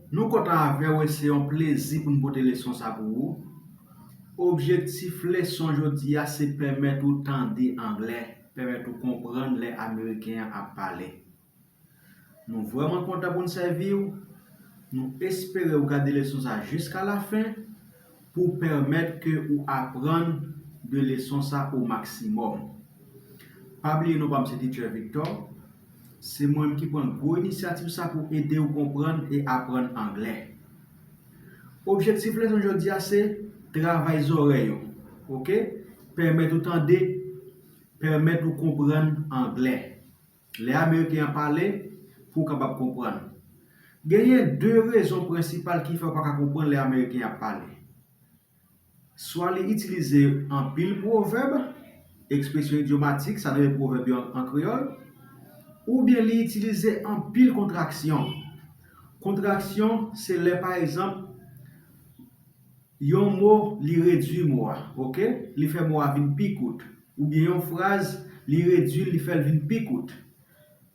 Nou kontan avèw e se yon plezi poun pote leson sa pou ou. Objektif leson jodi a se pèmèt ou tande anglè, pèmèt ou konprann lè ameriken an ap pale. Nou vrèman kontan poun sèviw, nou espere ou gade leson sa jiska lafen. pou pèmèt ke ou aprann de leson sa o maksimòm. Pa bliye non pa m se Teacher Victor, se mwen m ki pran gwo inisyativ sa pou ede ou konprann e aprann anglè. Objektif leson jodi a se travay zòrèy ou, ok, pèmèt ou tande, pèmèt ou konprann anglè. Lè Ameriken an pale, pou w kapab konprann. Genyen de rezon prensipal ki fè w pa ka konprann lè Ameriken ap pale. Swa li itilize anpil pwovèb, ekspresyon idyomatik, sa nou rele pwovèb yo an kreyòl, oubyen li itilize anpil kontraksyon. Kontraksyon se lè pa egzanp. Yon mo, li redui mo a. Ok? Li fè mo a vin pi kout. Oubyen yon fraz, li redui l, li fè l vin pi kout.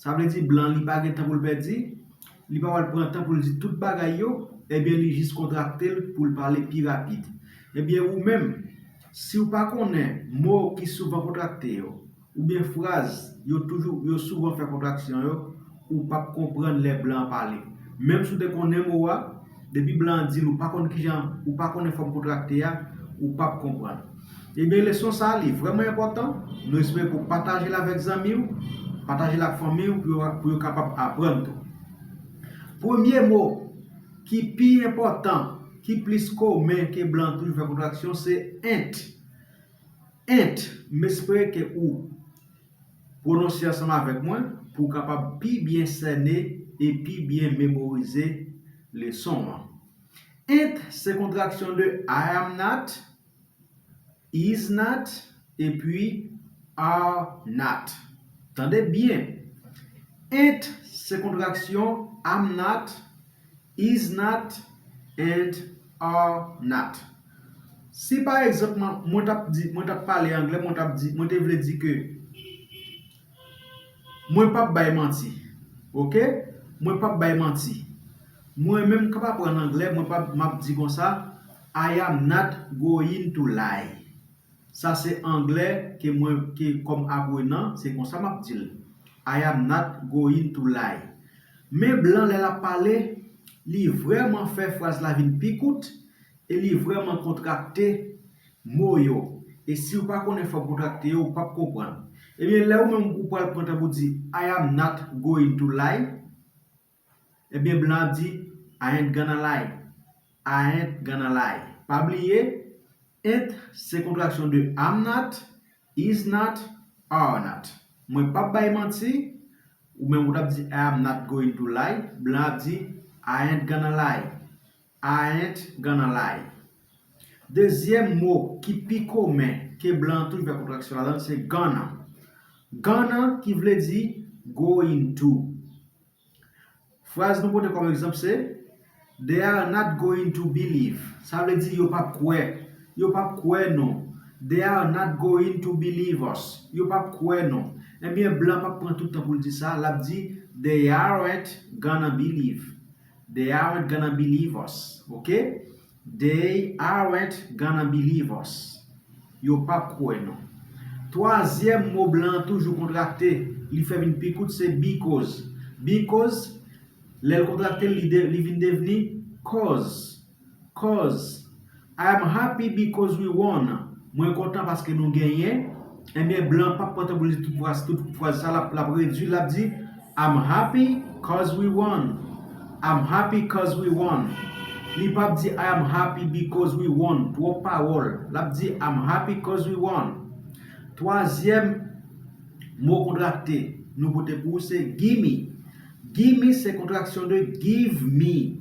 Sa vle di blan an li pa gen tan pou l pèdi, li pa pral pran tan pou l di tout bagay yo, ebyen li jis kontrakte l pou l pale pi rapid. Ebyen ou menm, si w pa konnen mo ki souvan kontrakte yo, Oubyen fraz yo toujou yo souvan fè kontraksyon yo ou pap konprann lè blan an pale. Menm si w te konnen mo a, depi blan an di l ou pa konn kijan ou pa konnen fòm kontrakte a, ou pap konprann. Ebyen leson sa li vrèman enpòtan, nou espere pou w pataje l avèk zanmi w, pataje l ak fanmi w pou yo kapab aprann tou. Premye mo ki pi enpòtan, ki plis komen ke blan toujou fè kontraksyon se ent. Ent, M espere ke ou pwononse ansanm avèk mwen pou ou kapab pi byen sène e pi byen memorize leson an. Ent se kontraksyon de I am not, is not, epi are not. Tande byen! Ent se kontraksyon am not, is not, and are not. Si pa egzanp mwen t ap di, mwen t ap pale angle, mwen t ap di, mwen te vle di ke mwen p ap bay manti. Ok? Mwen p ap bay manti. Mwen menm k ap aprann angle, mwen pa, m ap di konsa, I am not going to lie. Sa se angle ke mwen, ke kòm aprenan, se konsa m ap di l. I am not going to lie. Men blan lè l ap pale, li vrèman fè fraz la vin pi kout. E li vrèman kontrakte mo yo. E si ou pa konnen fòm kontrakte yo, ou pap konprann. Ebyen, lè ou menm ou pral pran tan pou di I am not going to lie, ebyen blan ap di I ain't gonna lie. I ain't gonna lie. Pa bliye, ain't se kontraksyon de am not, is not, are not. Mwen pap bay manti, ou menm ou tap di I am not going to lie, blan ap di I ain't gonna lie. Aent gan nan lay. Dezyèm mo ki pi komen ke blan an toujou fè kontraksyon ladan l se gan nan. Gan nan ki vle di going to. Fraz nou pote kòm egzanp se They are not going to believe. Sa vle di yo p ap kwè. Yo p ap kwè nou. They are not going to believe us. Yo p ap kwè nou. Ebyen blan an p ap pran tout tan pou l di sa, l ap di They aren't gonna believe. They aren't gonna believe us, ok? They aren't gonna believe us, Yo p ap kwè nou. Twazyèm mo blan an toujou kontrakte, li fè vin pi kout se because. Because, lè l kontrakte l, li vin devni cause. Cuz, I am happy because we won, mwen kontan paske nou genyen, enben blan pap kontan pou l di tout fraz sa l ap redui l ap di I'm happy cuz we won, I'm happy cuz we won li pap di I am happy because we won twòp pawòl l ap di I'm happy cuz we won Twazyèm mo kontrakte nou pote pou ou se gimme, gimme se kontraksyon de give me.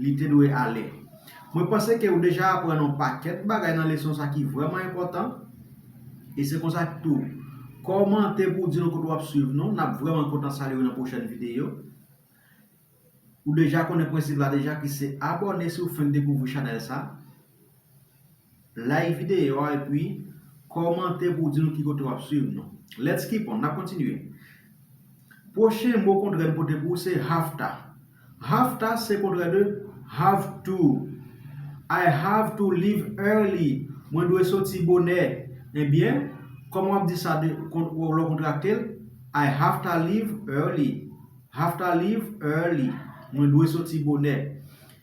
li te dwe ale. Mwen panse ke ou deja aprann yon pakèt bagay nan leson sa ki vrèman enpòtan, e se konsa tou, kòmante pou w di nou kote w ap swiv nou, n ap vrèman kontan salye w nan pwochèn videyo. Ou deja konnen prensip la deja ki se abòne si w fenk dekouvri chanèl sa. Like videyo a epi kòmante pou w di nou ki kote w ap swiv nou. Let's keep on, n ap kontinye. Pwochen mo kontrè m pote pou ou se have ta. Have ta se kontrè de have to. I have to leave early. Mwen dwe soti bonè. Ebyen, kòman w ap di sa lè w kontrakte l? I have ta leave early. Have ta leave early. Mwen dwe soti bonè.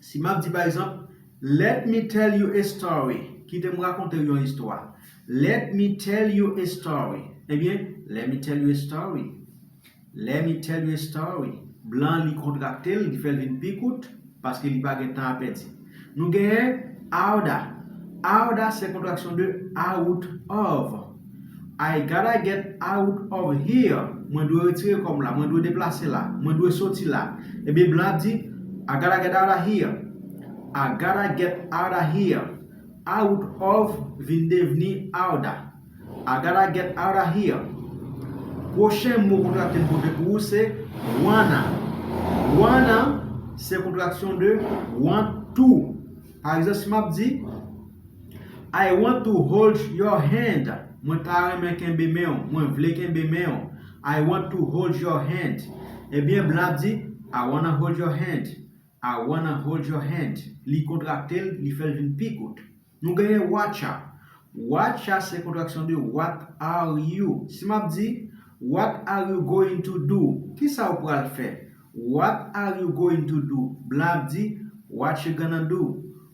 Si m ap di pa egzanp, Let me tell you a story, Kite m rakonte w yon istwa. Let me tell you a story, Ebyen, lè mi tèl you a story. Lè mi tèl you a story. Blan an li kontrakte l, li fè l vin pi kout, paske li pa gen tan a pèdi. Nou genyen, Out a. Out a se kontraksyon de out of. I gotta get out of here, Mwen dwe retire kò m la, mwen dwe deplase la, mwen dwe soti la. Ebyen blan ap di, I gotta get out of here, I gotta get out of here, Out of vin devni outta. I gotta get out of here. Pwochen mo kontrakte m pote pou ou se wanna. Wanna se kontraksyon de want to. Pa egzanp, si m ap di. I want to hold your hand Mwen ta renmen kenbe men w Mwen vle kenbe men w I want to hold your hand Ebyen blan ap di I wanna hold your hand I wanna hold your hand Li kontrakte l, li fè l vin pi kout. Nou genyen whatcha Whatcha se kontraksyon de what are you Si m ap di What are you going to do? Kisa ou pral fè? What are you going to do? Blan ap di Whatcha gonna do?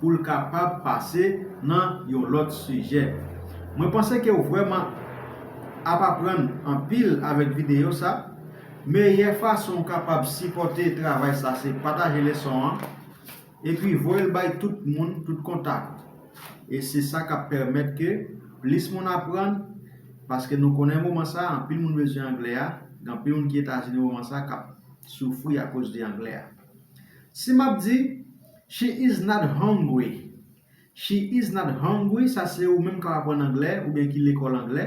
pou l kapab pase nan yon lòt sijè. Mwen panse ke w vrèman ap aprann anpil avèk videyo sa. Meyè fason w kapab sipòte travay sa se pataje leson an, epi voye l bay tout moun, tout kontak ou. E se sa k ap pèmèt ke plis moun aprann, paske nou konnen moman sa anpil moun bezwen anglè a, gen anpil moun ki Etazini moman sa k ap soufri akoz de anglè a. Si m ap di. She is not hungry She is not hungry sa se ou menm k ap aprann anglè oubyen ki lekòl anglè.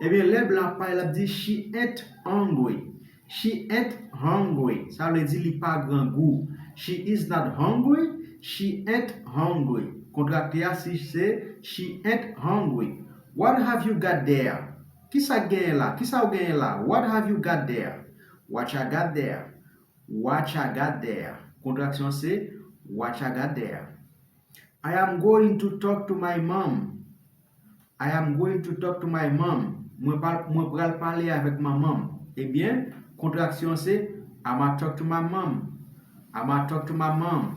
Ebyen lè blan ap pale l ap di She ain't hungry She ain't hungry sa vle di li pa grangou She is not hungry She ain't hungry Kontrakte a si se She ain't hungry What have you got there? Ki sa k genyen la? Ki sa ou genyen la? What have you got there? What ya got there? Watch a got there, Kontraksyon an se Watch a got there. I am going to talk to my mom, I am going to talk to my mom, Mwen pa mwen pral pale avèk manman m. Ebyen, kontraksyon an se I'ma talk to my mom, I'ma talk to my mom.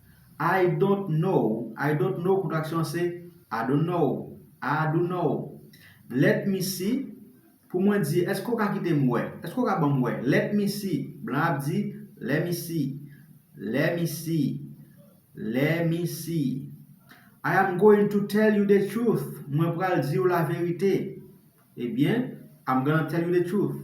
I don't know I don't know kontraksyon an se I don't know I do know Let me see Pou mwen di Èske w ka kite m wè Èske w ka ban m wè Let me see Blan ap di Lè mi si Lè mi si Lè mi si I am going to tell you the truth Mwen pral di w laverite Ebyen I'm gonna tell you the truth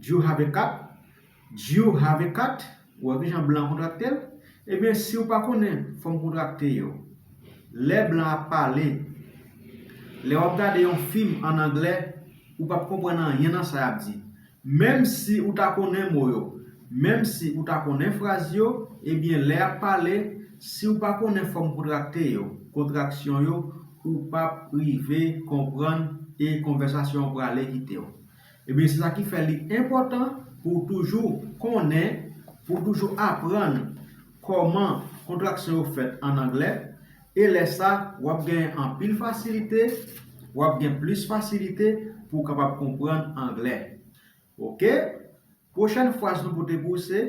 Do you have a cat? Do you have a cat? Ou wè kijan blan an kontrakte l? Ebyen, si ou pa konnen fòm kontrakte yo, lè blan ap pale, lè w ap gade yon fim an angle, ou p ap konprann anyen nan sa y ap di. Menm si ou ta konnen mo yo, menm si ou ta konnen fraz yo, ebyen lè y ap pale, si ou pa konnen fòm kontrakte yo, kontraksyon yo, ou pap rive konprann e konvèsasyon an prale kite w. Ebyen se sa ki fè li enpòtan pou w toujou konnen, pou w toujou aprann kòman kontraksyon yo fèt an anglè e lè sa w ap gen anpil fasilite, w ap gen plis fasilite pou w kapab konprann anglè. Ok prochèn fraz nou pote pou ou se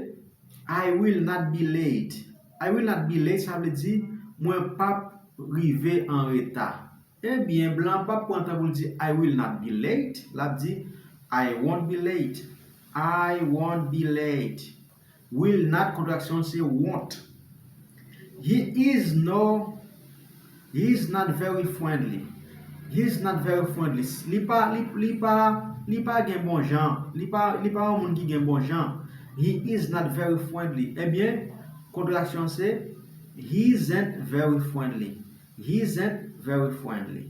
I will not be late I will not be late sa vle di mwen pap rive anreta Ebyen blan an pap pran tan pou l di I will not be late l ap di I won't be late I won't be late Will not kontraksyon l se won't. He is no He is not very friendly He is not very friendly Li pa Li pa Li pa gen bonjan Li pa Li pa yon moun ki gen bonjan He is not very friendly Ebyen, kontraksyon l se He isn't very friendly He isn't very friendly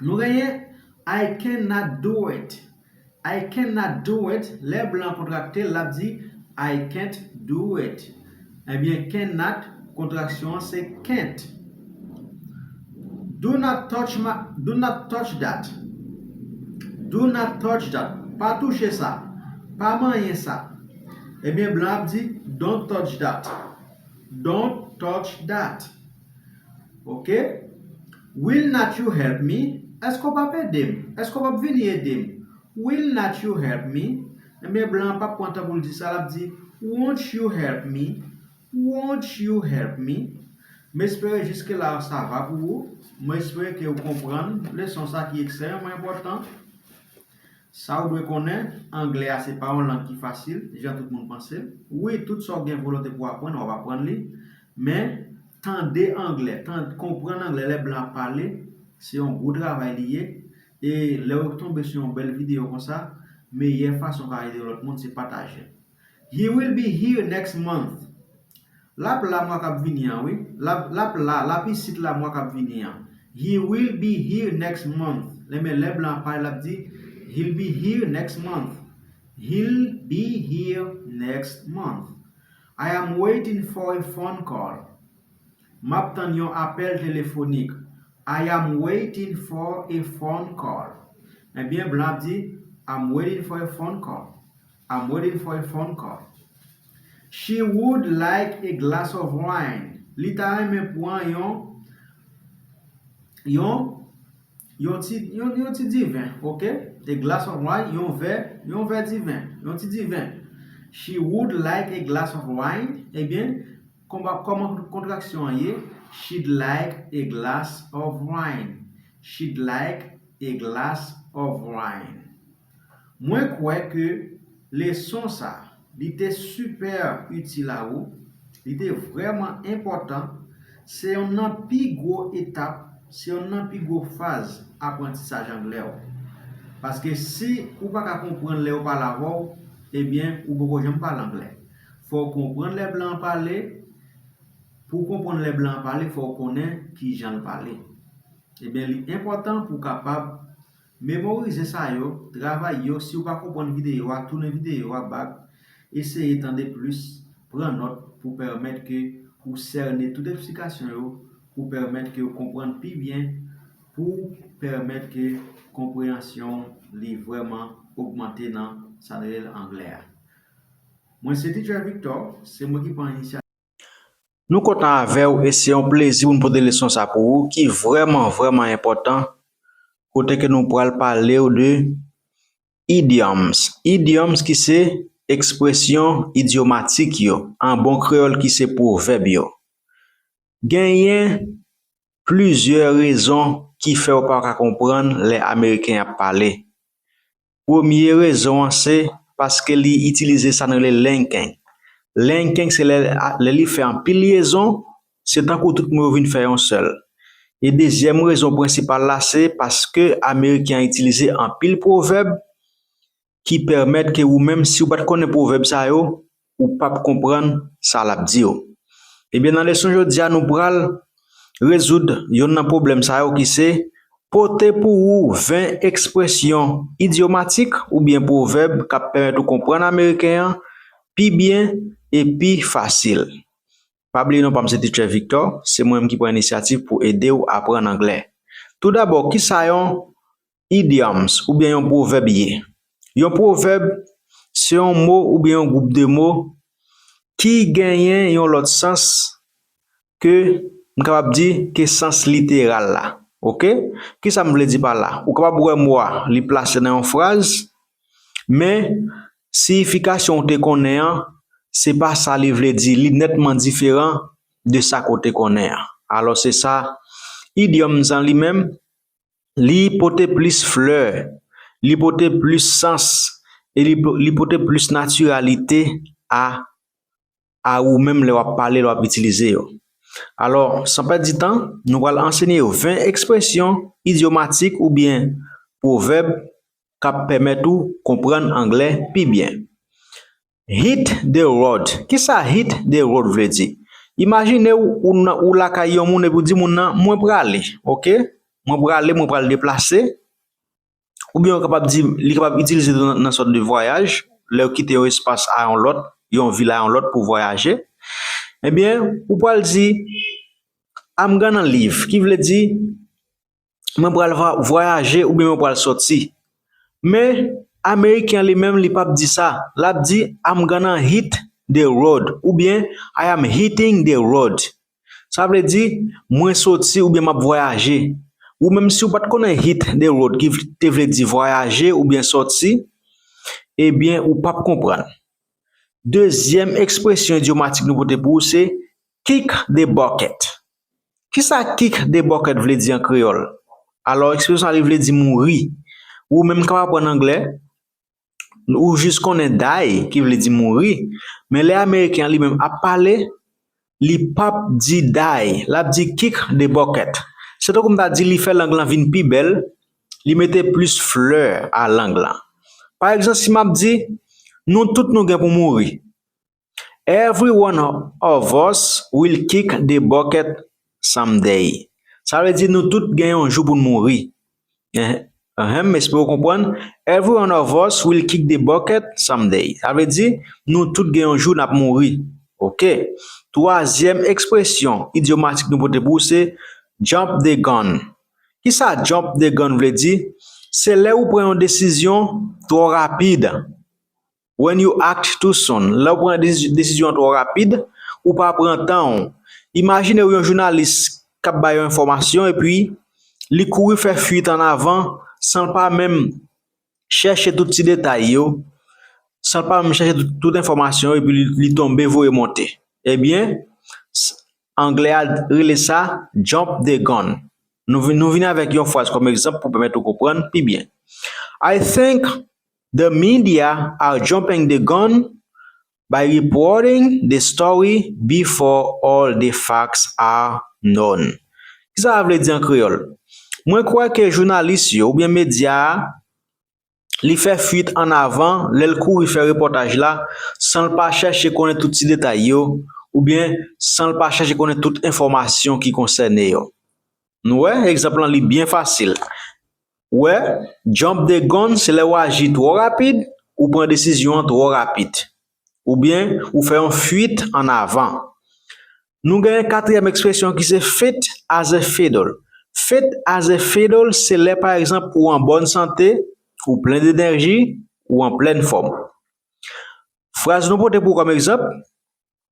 Nou genyen I can not do it I can not do it Lè blan an kontrakte l l ap di I can't do it Ebyen can not kontraksyon an se can't Do not touch my Do not touch that Do not touch that Pa touche sa Pa manyen sa Ebyen blan an ap di Don't touch that Don't touch that Ok Will not you help me Èske w p ap ede m Èske w p ap vini ede m Will not you help me Ebyen blan an p ap pran tan pou l di sa l ap di Won't you help me Won't you help me M espere jiske la sa va pou ou M espere ke ou konprann leson sa ki ekstrèmeman enpòtan Sa w dwe konnen, Anglè a se pa yon lang ki fasil, jan tout moun panse l. Wi, tout sa w gen volonte pou w aprann, w ap aprann li. Men, tande Anglè, tan, konprann Anglè lè blan ap pale, se yon gwo travay li ye. E, lè w tonbe sou yon bèl videyo konsa, meyè fason w ka ede lòt moun, se pataje l. He will be here next month. L ap la mwa k ap vini an wi. L ap, l ap la, l ap isit la mwa k ap vini an. He will be here next month. Enben, lè blan an pale, l ap di, He ll be here next month. He ll be here next month. I am waiting for a phone call. M ap tann yon apèl telefonik. I am waiting for a phone call. Enben, blan an ap di, I'm waiting for a phone call. I'm waiting for a phone call She would like a glass of wine Li ta renmen pran yon yon yon ti yon ti diven ok A glass of wine yon vè yon vè diven yon ti diven She would like a glass of wine Ebyen konba kòman kontraksyon an ye She'd like a glass of wine She'd like a glass of wine Mwen kwè ke leson sa, li te super util a ou, li te vrèman enpòtan, se yonn nan pi gwo etap, se yonn nan pi gwo faz aprantisaj anglè ou. Paske si ou pa ka konprann lè yo pale avè w, ebyen ou poko janm pale anglè. Fò w konprann lè blan an pale, pou w konprann lè blan an pale fò w konnen kijan l pale. Ebyen li enpòtan pou w kapab Memorize sa yo, travay yo, si ou pa konprann videyo a, tounen videyo a bak, eseye tande plis, pran nòt pou pèmèt ke ou sène tout eksplikasyon yo, pou pèmèt ke ou konprann pi byen, pou pèmèt ke konpreyansyon ou li vrèman ogmante nan sa nou rele anglè a. Mwen se Teacher Victor, se mwen ki pran inisyativ. Nou kontan avèw e se yon plezi pou nou pote leson sa pou ou ki vrèman vrèman enpòtan kote ke nou pral palew de Idioms, Idioms ki se ekspresyon idyomatik yo an bon kreyòl ki se pwovèb yo. Genyen plizyè rezon ki fèw pa ka konprann lè ameriken ap pale. Premye rezon an se paske li itilize sa nou rele linking. Linking se lè lè li fè anpil lyezon, se tankou tout mo yo vin fè yon sèl. E dezyèm rezon prensipal la se paske ameriken an itilize anpil pwovèb ki pèmèt ke ou menm si ou pa t konnen pwovèb sa yo, Ou pap konprann sa lap diw. Ebyen nan leson jodia nou pral Rezoud yonn nan pwoblèm sa yo ki se Pote pou ou 20 ekspresyon idyomatik oubyen pwovèb kap pèmèt ou konprann ameriken an pi byen e pi fasil Pa bliye non pam se Teacher Victor se mwen menm ki pran inisyativ pou edew aprann anglè Tou dabò kisa yon Idioms oubyen yon pwovèb ye? Yon pwovèb se yon mo oubyen yon gwoup de mo ki genyen yon lòt sans ke m kapab di ke sans literal la ok kisa m vle di pa la ou kapab wè mo a li plase nan yon fraz men siyifikasyon ou te konnen an se pa sa li vle di li nètman diferan de sa ke w te konnen an alò se sa idioms an li menm Li pote plis flè, li pote plis sans e li pote plis natiralite a a ou menm lè wap pale, lè wap itilize yo. Alò, san pèdi tan, nou pral ansenye yo 20 ekspresyon idyomatik oubyen pwovèb kap pèmèt ou konprann anglè pi byen. Hit the road, kisa hit the road vle di? Imajine w ou nan ou lakay yon moun epi w di moun nan mwen prale ok, mwen prale mwen pral deplase oubyen ou kapab di li kapab itilize tou nan sòt de vwayaj lè ou kite yon espas a yon lòt, yon vil a yon lòt pou vwayaje ebyen ou pral di I'm gonna leave ki vle di mwen pral vwayaje oubyen mwen pral sòti. Men, Ameriken li menm li pap di sa, l ap di I'm gonna hit the road oubyen I am hitting the road. Sa vle di, mwen sòti oubyen m ap vwayaje. Ou menm si ou pa t konnen hit the road ki te vle di vwayaje oubyen sòti, ebyen ou pap konprann. Dezyèm ekspresyon idyomatik nou pote pou ou se kick the bucket. Kisa kick the bucket vle di an kreyòl? Alò ekspresyon sa li vle di mouri. Ou menm kap aprann anglè, ou jis konnen die ki vle di mouri, men lè ameriken an li menm ap pale, li pap di die, lap di kick the bucket. Se tankou m ta di li fè lang lan vin pi bèl, li mete plis flè a lang lan. Pa egzan si map di, nou tout nou gen pou mouri. Every one of us will kick the bucket someday. Sa vle di nou tout gen yon jou pou n mouri. Ahem, m espere w konprann. Every one of us will kick the bucket someday. Sa vle di, nou tout gen yon jou n ap mouri. Ok. Twazyèm ekspresyon idyomatik nou pote pou ou se jump the gun. Kisa jump the gun vle di? Se lè ou pran yon desizyon twò rapid. When you act too soon, lè ou pran desizyon twò rapid, ou pa pran tan ou. Imajine ou yon jounalis k ap bay yon enfòmasyon epi li kouri fè fuit an avan san l pa menm chèche tout ti detay yo, san l pa menm chèche tout enfòmasyon yo epi li tonbe voye monte. Ebyen, anglè a rele sa jump the gun. Nou vini avèk yon fraz kòm egzanp pou pèmèt ou konprann pi byen. I think The media are jumping the gun by reporting the story before all the facts are known. Ki sa sa vle di an kreyòl? Mwen kwè ke jounalis yo oubyen medya a li fè fuit an avan lè l kouri fè repòtaj la san l pa chèche konnen tout ti detay yo oubyen san l pa chèche konnen tout enfòmasyon ki konsène yo. Nou wè, egzanp lan li byen fasil. Ou wè, jump the gun se lè ou aji twò rapid, ou pran desizyon an twò rapid. Oubyen, ou fè yon fuit an avan. Nou gen katriyèm ekspresyon ki se fit as a fiddle. Fit as a fiddle se lè pa egzanp ou an bòn sante, ou plen denèji, ou an plèn fòm. Fraz nou pote pou ou kòm egzanp.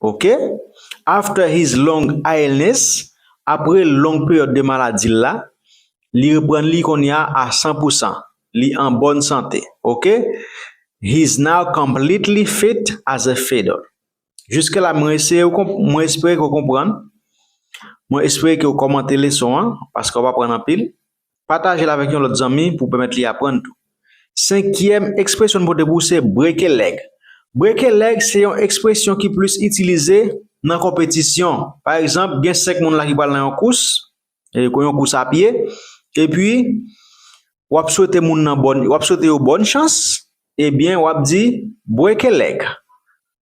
Ok after his long illness apre long peryòd de maladi l la li reprann li konnya a san pou san li an bòn sante ok he's now completely fit as a fiddle jiske la mwen eseye ou konp mwen espere ke ou konprann mwen espere ke ou kòmante leson an paske w ap aprann anpil Pataje l avèk yon lòt zanmi pou pèmèt li aprann tou. Senkyèm ekspresyon n pote pou w se breke lèg. Breke lèg se yon ekspresyon ki plis itilize nan konpetisyon. Pa egzanp, gen 5 moun la ki pral nan yon kous, yon kous a pye, epi w ap swete moun nan bòn, w ap swete yo bòn chans, ebyen w ap di, Break a leg.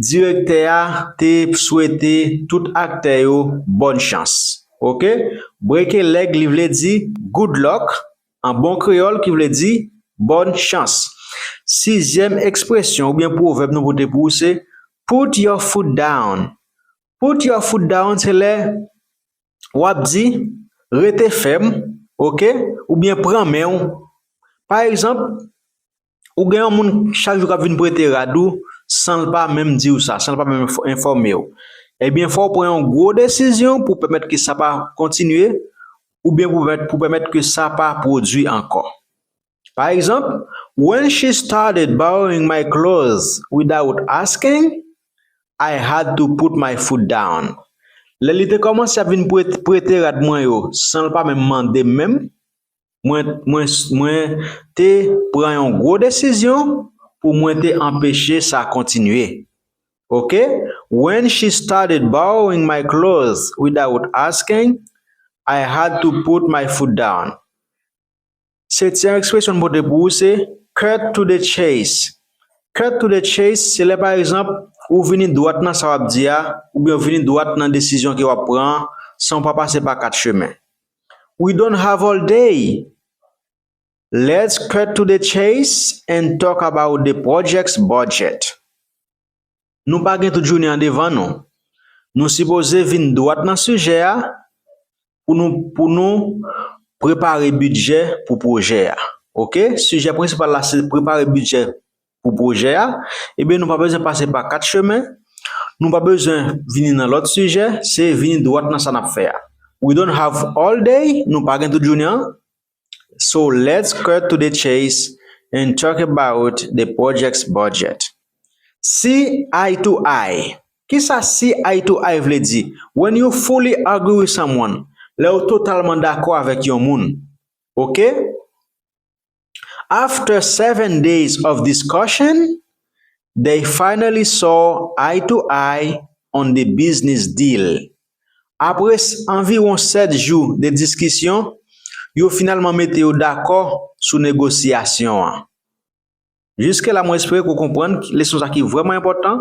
Direktè a te swete tout aktè yo bòn chans. Ok. Break a leg li vle di good luck an bon kreyòl ki vle di bòn chans. Sizyèm ekspresyon oubyen pwovèb nou pote pou ou se Put your foot down. Put your foot down se lè w ap di rete fèm ok oubyen pran men w. Pa egzanp, Ou gen yon moun chak jou k ap vin prete rad ou san l pa menm di w sa, san l pa menm enfòme w. Ebyen fò w pran yon gwo desizyon pou pèmèt ke sa pa kontinye oubyen pou pèmèt pou pèmèt ke sa pa pwodui ankò. Pa egzanp, When she started borrowing my clothes without asking, I had to put my foot down. Lè li te kòmanse ap vin prete rad mwen yo san l pa menm mande m menm, Mwen te pran yon gwo desizyon pou mwen te anpeche sa kontinye. Ok, when she started borrowing my clothes without asking, I had to put my foot down. Se ti ekspresyon m pote pou ou se cut to the chase. Cut to the chase se lè pa egzanp ou vini dwat nan sa w ap di a oubyen ou vini dwat nan desizyon ke w ap pran an san w pa pase pa kat chemen. We don't have all day, let's cut to the chase and talk about the project's budget. Nou pa gen tout jounen an devan nou, nou sipoze vin dwat nan sijè a pou nou pou nou prepare bidjè pou pwojè a. Ok, sijè prensipal la se prepare bidjè pou pwojè a, ebyen nou pa bezwen pase pa 4 chemen, nou pa bezwen vini nan lòt sijè, se vini dwat nan sa n ap fè a. We don't have all day, nou pa gen tout jounen an, so let's cut to the chase and talk about the project's budget. See eye to eye, Kisa see eye to eye vle di? When you fully agree with someone, Lè ou totalman dakò avèk yon moun. Ok? After seven days of discussion, they finally saw eye to eye on the business deal. Apre anviwon 7 jou de diskisyon, yo finalman mete yo dakò sou negosyasyon an. Jiske la mwen espere ke w konprann leson sa ki vrèman enpòtan,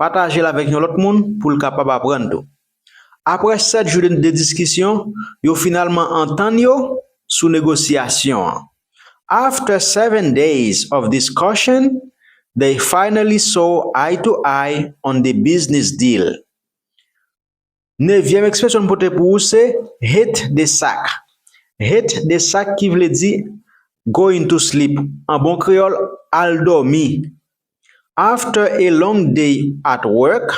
pataje l avèk yon lòt moun pou l kapab aprann tou. Aprè 7 jou de diskisyon, yo finalman antann yo sou negosyasyon an. After seven days of discussion, they finally saw eye to eye on the business deal. Nevyèm ekspresyon n pote pou ou se hit the sack. Hit the sack ki vle di go into sleep, an bon kreyòl, al dòmi. After a long day at work,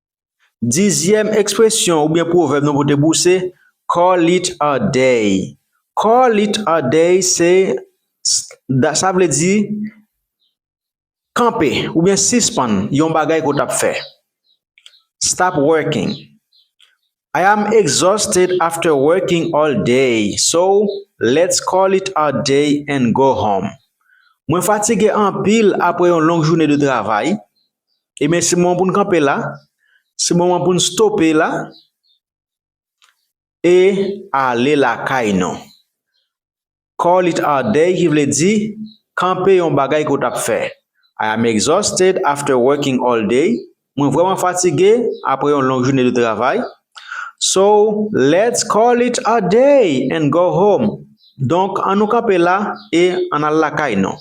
Dizyèm ekspresyon oubyen pwovèb nou pote pou se call it a day. Call it a day se sa vle di kanpe oubyen sispann yon bagay ke w tap fè. Stop working. I am exhausted after working all day so let's call it a day and go home Mwen fatige anpil apre yon long joune de travay, ebyen se moman pou n kanpe la, se moman pou n stope la e ale lakay nou. Call it our day ki vle di, Kanpe yon bagay ke w t ap fè. I am exhausted after working all day, Mwen vrèman fatige apre yon long joune de travay. So, let's call it a day and go home, Donk, an nou kanpe la e an n al lakay nou.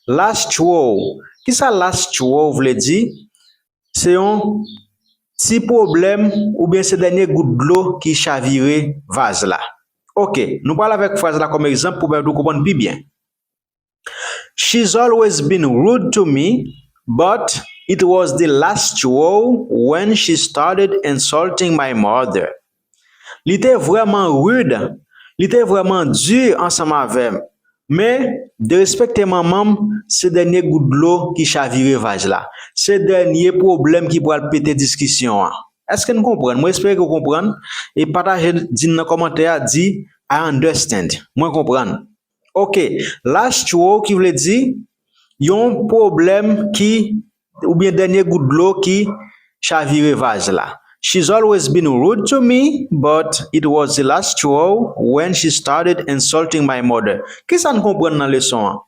Last Chwo, Kisa last chwo vle di? Se yon Ti pwoblèm oubyen se dènye gout dlo ki chavire vaz la? Ok, nou pral avèk fraz la kòm egzanp pou pèmèt ou konprann pi byen She's always been rude to me, but it was the last straw when she started insulting my mother. Li te vrèman rud, li te vrèman di ansanm avè m, men derespekte manman m se dènye gout dlo ki chavire vaz la, se dènye pwoblèm ki pral pete diskisyon an. Èske n konprann? Mwen espere ke w konprann e pataje l, di n nan kòmantè a, di I understand, mwen konprann. Ok, last throw ki vle di yon pwoblèm ki Oubyen dènye gout dlo ki chavire vaz la. She's always been rude to me, but it was the last straw when she started insulting my mother. Kisa n konprann nan leson an?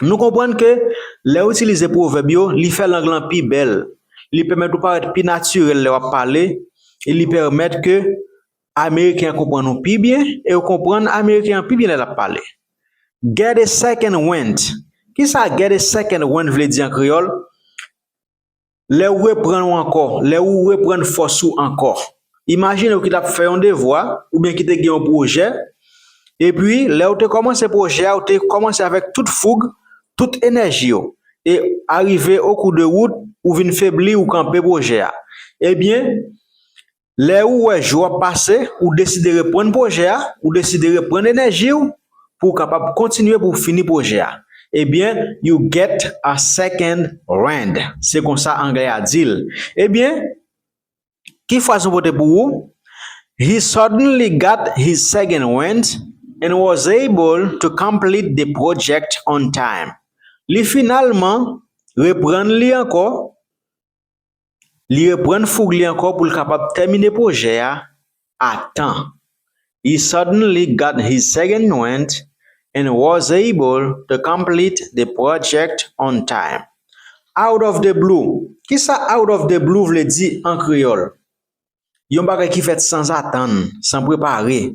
Nou konprann ke lè ou itilize pwovèb yo, li fè lang lan pi bèl, li pèmèt ou parèt pi natirèl lè w ap pale e li pèmèt ke Ameriken an konprann ou pi byen e ou konprann Ameriken an pi byen lè l ap pale. Get a second wind Kisa get a second wind vle di an kreyòl? Lè ou reprann ou ankò, lè ou reprann fòs ou ankò. Imajine ou ki t ap fè yon devwa oubyen ki te gen yon pwojè, epi lè ou te kòmanse pwojè a ou te kòmanse avèk tout foug, tout enèji ou, e arive o kou de wout ou vin febli ou kanpe pwojè a. Ebyen, Lè ou wè jou ap pase, ou deside reprann pwojè a, ou deside reprann enèji ou pou ou kapab kontinye pou ou fini pwojè a. Ebyen, you get a second wind. Se konsa anglè a di l. Ebyen, ki fraz nou pote pou ou? He suddenly got his second wind and was able to complete the project on time. Li finalman reprann li ankò Li reprann foug li ankò pou l kapab tèmine pwojè a a tan. He suddenly got his second wind and was able to complete the project on time. Out of the blue, kisa out of the blue vle di an kreyòl? Yon bagay ki fèt sanzatann, san prepare.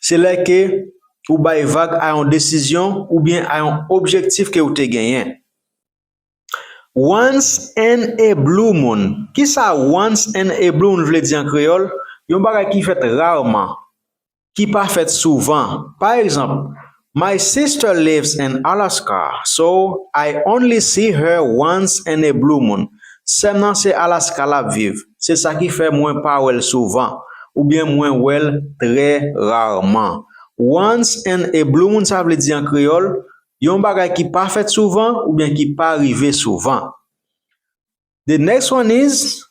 se lè ke ou bay vag a yon desizyon oubyen a yon objektif ke ou te genyen. Once in a blue moon, kisa once in a blue moon vle di an kreyòl? Yon bagay ki fèt rarman, ki pa fèt souvan. Pa egzanp, My sister lives in Alaska so I only see her once in a blue moon sèm nan se Alaska lap viv se sa ki fè mwen pa wèl souvan oubyen mwen wèl trè rarman once in a blue moon sa vle di an kreyòl yon bagay ki pa fèt souvan oubyen ki pa rive souvan. The next one is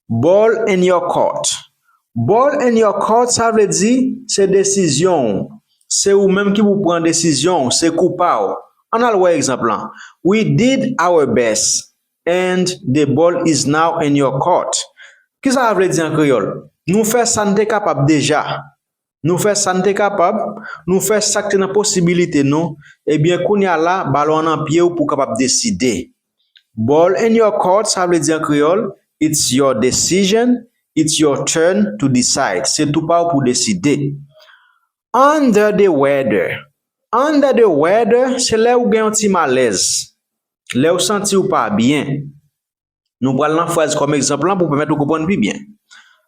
Ball in your court. Ball in your court sa vle di se desizyon w. Se ou menm ki pou pran desizyon w, se kou pa w. Ann al wè egzanp lan, We did our best and the ball is now in your court. Kisa a vle di an kreyòl? Nou fè sa n te kapab deja. Nou fè sa n te kapab, nou fè sa k te nan posibilite nou, ebyen kounye a la balon an nan pye w pou w kapab deside. Ball in your court sa vle di an kreyòl, it's your decision, it's your turn to decide, se tou pa w pou w deside. Under the weather Under the weather se lè ou gen yon ti malèz, lè w santi w pa byen. Nou pral nan fraz kòm egzanp lan pou pèmèt ou konprann pi byen.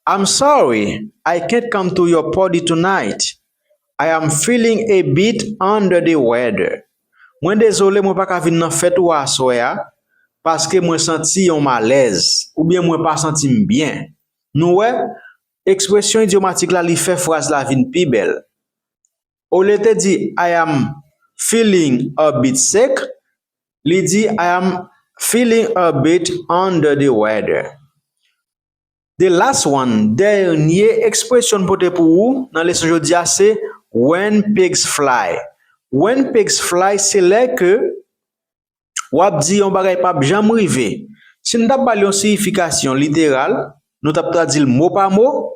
I'm sorry, I can't come to your party tonight. I am feeling a bit under the weather. Mwen dezole mwen pa ka vin nan fèt ou a aswè a paske mwen santi yon malèz oubyen mwen pa santi m byen. Nou wè, ekspresyon idyomatik la li fè fraz la vin pi bèl. Olye te di I am feeling a bit sick, li di I am feeling a bit under the weather. The last one, dènye ekspresyon n pote pou ou nan leson jodi a se When pigs fly. When pigs fly se lè ke w ap di yon bagay pap janm rive. Si n t ap ba l yon siyifikasyon literal, nou t ap tradi l mo pa mo,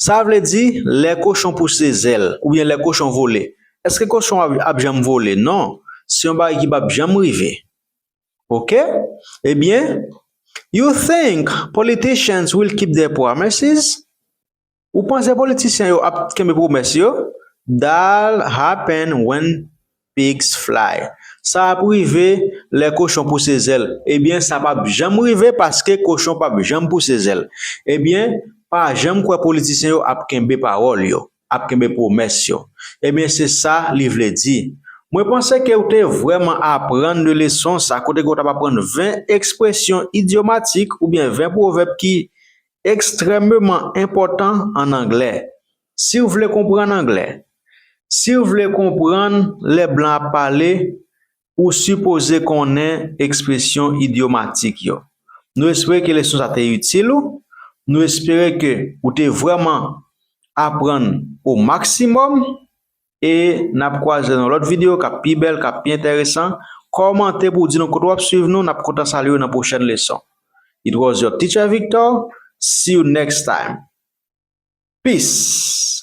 Sa vle di, lè kochon pouse zèl, oubyen lè kochon vole. Èske kochon an ap janm vole? Non, se yon bagay ki pap janm rive. Ok? Ebyen, You think politicians will keep their promises? Ou panse politisyen yo ap kenbe pwomès yo? Dal happen when pigs fly Sa ap rive lè kochon pouse zèl Ebyen sa pap janm rive paske kochon pap janm pouse zèl Ebyen pa janm kwè politisyen yo ap kenbe pawòl yo, ap kenbe pwomès yo Ebyen se sa li vle di Mwen panse ke ou te vrèman aprann de leson sa kote ke ou tap aprann 20 ekspresyon idyomatik oubyen 20 pwovèb ki Ekstrèmeman enpòtan an anglè Si w vle konprann anglè Si w vle konprann lè blan ap pale ou sipoze konnen ekspresyon idyomatik yo Nou espere ke leson sa te itil ou Nou espere ke ou te vrèman aprann o maksimòm. E nap kwaze nan lòt video kap pi bèl, kap pi entèresan. Kòmante pou w di nou kote wap swiv nou, nap kontan salye w nan pwochèn leson. It was your teacher Victor, see you next time. Peace!